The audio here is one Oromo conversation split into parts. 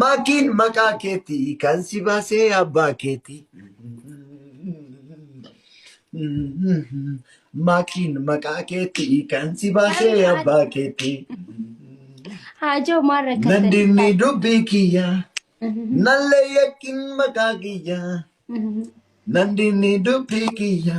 Maakiin maqaa keeti kan si baasee abbaa keeti. Maakiin maqaa keeti kan si baasee abbaa keeti. Haajoo maal rakkattanii Nandinni taate? dubbii kiyya nallee yakkin maqaa kiyya. Nandinni dubbii kiyya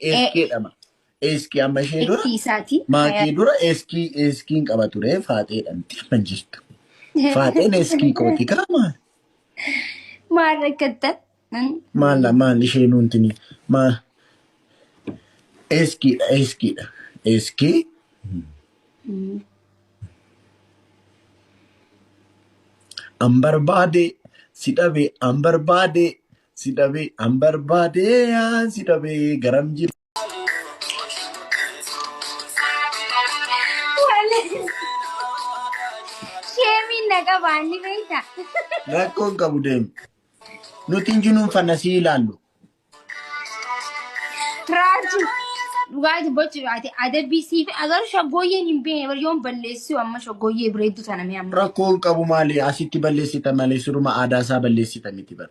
Eeskii jedhama. Eeskii amma ishee dura Itti isaati. maatii dura eeskii eeskiin qaba ture faaxee jedhamti amma hin jirtu. Faaxeen eeskii kooti kaama. Maal rakkattan? Maal maal ishee nuuntini maal eeskiidha eeskiidha eeskii an barbaade si dhabe an barbaade Si dhabee an barbaadee an si dhabee garam jira. Sheemiin na qabaa ni beekta. Rakkoon qabu deemu. Nuti hin jinuun fanna si ilaallu. Raaju. Dhugaati bocu ati adabbii siif agaruu shaggooyyeen hin beekne bari yoon balleessuu amma shaggooyyee bireedduu tana mee amma. Rakkoon qabu maali asitti balleessita malee suruma aadaa isaa balleessita miti bar.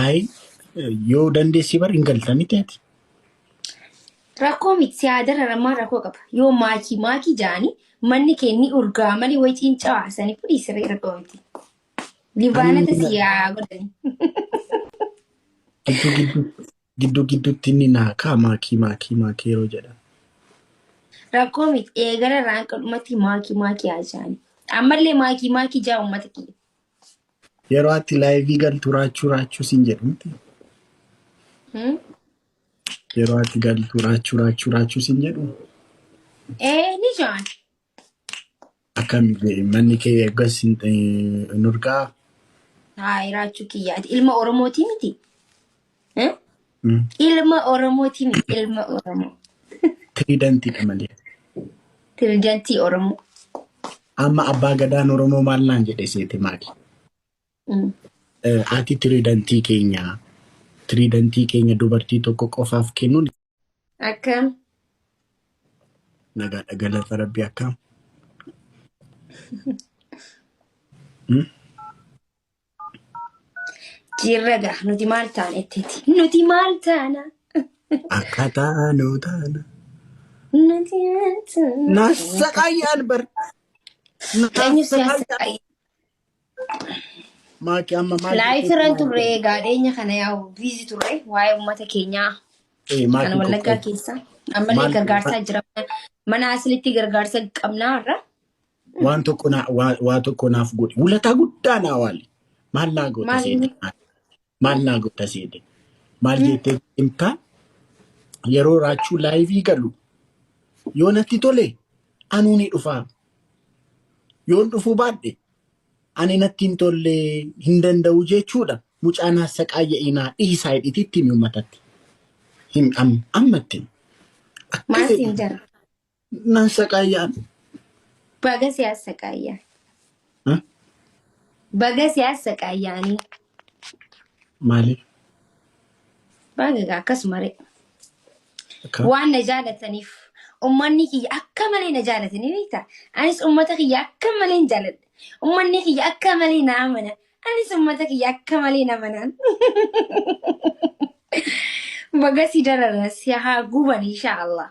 Ayi yoo dandeessii bar hin galta miti ati. Rakkoo miti si haa dararan maal rakkoo qaba yoo maakii maakii jaanii manni kee ni urgaa malee wayi ciincaa sanii fudhii siree rakkoo miti. Libaanota si haa godhani. Gidduu gidduu gidduu gidduutti inni naa kaa maakii maakii maakii yeroo jedhan. Rakkoo miti eegala irraa hanga dhumatti maakii maakii haa jaanii. Ammallee maakii maakii jaa uummata kiyya. Yeroo ati laayivii galtu raachuu raachuu siin jedhu miti. Hmm? Yeroo ati galtu raachuu raachuu raachuu siin jedhu Ee ni jaan. akkam manni kee eeggas hin hin urgaa. Haa iraachuu kiyyaati. Ilma Oromootii miti. Eh? Ilma Oromooti mi ilma Oromoo. Tiriidantiidha malee. Tiriidantii Oromoo. Amma abbaa gadaan Oromoo maal naan jedhe seete maali? Mm. Eh, Ati tiriidantii keenya tiriidantii keenya dubartii tokko qofaaf kennuun Akkam nagaadha galata rabbi akkam. Jirra gaa nuti maal taana ittiiti. Nuti maal taana? Akka taanu taana. Nuti maal taana? Nassaqayyaan bar. Eenyu siyaasa Nassaqayyaan. qayyee? Maaki amma maal Laayif jechuutti irraan maal turre jedhu? egaa dhiyeenya kana yaa'u biizi turre waa'ee uummata keenyaa Eh, kan maaki wallaggaa qoqqee. keessa ammallee Maal gargaarsaa jira. Mana asilitti gargaarsa qabnaa irra waan tokko naa- waa- waa tokko naaf godhi. Wulataa guddaa naa waali. Maal naa goota Maal seete? inni? Maal naa goota seete? Maal jettee himtaa? Yeroo raachuu laayivii galu yoo natti tole anuu ni dhufaa. Yoon dhufuu baadhe ani natti hin tolle hin danda'u jechuudha. Mucaan hassaqaayya inaa dhiisaa hidhititti ni uummatatti. Hin am- ammatti. Akka Maal fedhi siin jedha? Nan saqaayaan. Baga si assaqaayyaa. Ha? Baga si assaqaayyaanii. Maaliif? Baga egaa akkasuma ree. Akka? Waan na jaalataniif ummanni kiyya akka malee na jaalatanii beekta. Anis ummata kiyya akka malee hin jaaladha. Ummanni kiyya akka malee na amana. Anis ummata kiyya akka malee na amanaan. Baga si darara si haa guban inshaallah.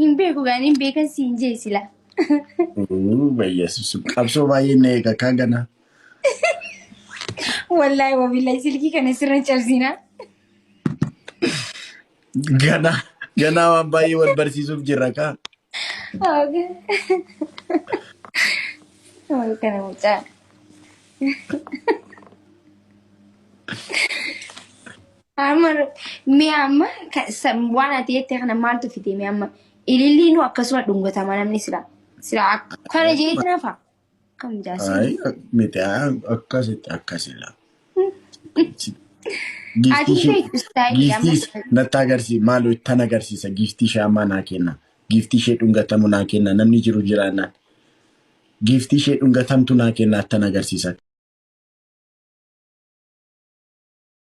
Hin beeku gaa hin beekan siin jee sila. Bayyeessu qabsoo baay'een na eega kaa ganaa. Wallaahi wabillahi silkii kana sirra cabsinaa. Ganaa ganaa waan baay'ee wal barsiisuuf jirra kaa. Wal kana mucaa. Amma mee amma ka- sa- waan ati jette kana maaltu fite mee amma ililliinuu akkasuma dhungatama namni sila sila ak- kana jeeti nafa kam jaasii Ay, miti ay, akkasitti akkasila. ati Giiftii ishee beektu istaayilii amma giiftiis natti agarsiisa maaloo ittan agarsiisa giiftii ishee ammaa naa kenna. Giiftii ishee dhungatamu naa kenna namni jiru jiraannaan. Giiftii ishee dhungatamtu naa kenna ittan agarsiisa.